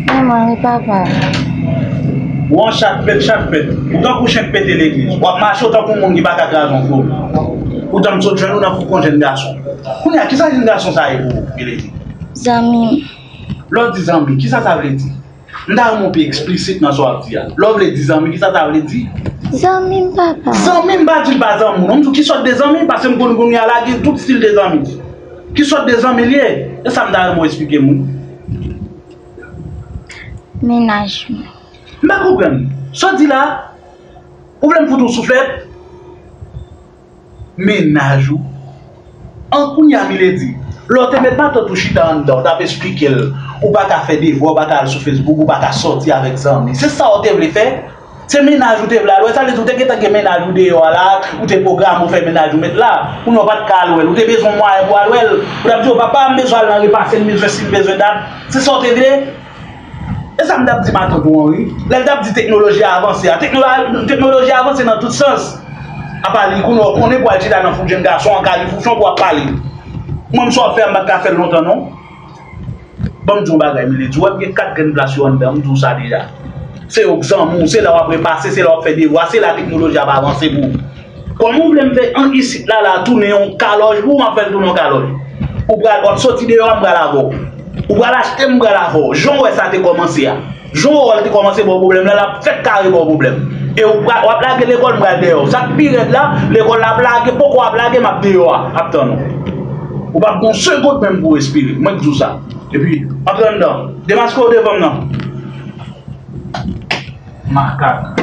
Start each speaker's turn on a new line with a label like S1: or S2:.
S1: Manman e papa. Ou
S2: an chat pèt chat pèt Ou tankou chen k pete legliz W ap mache w tankou moun ki pa ka kraze yon flo Poutan m sot jwenn ou nan foukon jenn gason Kounye a, ki sa jenn gason sa a ye pou ou, Milady? Zanmi
S1: m. Lè w di
S2: zanmi, ki sa sa vle di? M ta renmen w pi eksplisit nan sa w ap di a Lè w vle di zanmi, ki sa sa vle di? Zanmi m,
S1: papa. Zanmi m, m pa di l pa
S2: zanmi w non M di w ki sòt de zanmi paske m konn kounye a la gen tout stil de zanmi Ki sòt de zanmi li ye? Se sa m ta renmen w esplike m wi.
S1: Mennaj mwen. M pa
S2: konprann. Sa w di la? Ou vle m fout ou souflèt? Mennaj ou? An kounye a Milady, lè w te met matant ou chita anndan, w t ap esplike l ou pa ka fè devwa, ou pa ka al sou Facebook, ou pa ka sòti avèk zanmi. Se sa w te vle fè? Se mennaj ou te vle al wè, sa vle di ou te gentan gen mennaj ou deyò a la, ou te pwograme ou fè mennaj ou met la, kounye a ou pa t ka al wè l, ou te bezwen mwayen pou al wè l, ou t ap di yo papa m bezwen al nan repase, m bezwen si, m bezwen dat, se sa ou te vle? E sa m t ap di matant ou an wi, lè l t ap di teknoloji a avanse a, teknoloji a avanse nan tout sans, apa li kounye a ou konnen pou al chita nan foup jenn gason an kalifouchon pou w ap pale, mwen m sa w ap fè a m pa t ka fè l lontan non. Banm diw bagay milady wèm gen 4 grenn plas yo anndanm diw sa deja se yo k zanmi w se la wap repase se la wap fè devwa se la teknoloji ap avanse pou ou kòman ou vlem fè ank isit la la tounen yon kalòj pou ou map fèl tounen yon kalòj ou pral wap soti deyò a m pral avèw ou pral achte m m pral avèw janw wè sa te kòmanse a. Jou Owòl te kòmanse ba w pwoblèm la, l ap fèk kare ba w pwoblèm. E w ap lage lekòl, m pral dèyè w. Sa k pi rèd la, lekòl la ap lage, poko ap lage, m ap deyò a, ap tann ou. Ou p ap gen yon segond menm pou w respire, mwen k di w sa. Epi, antre anndan. Demaske w devan m nan. Makak.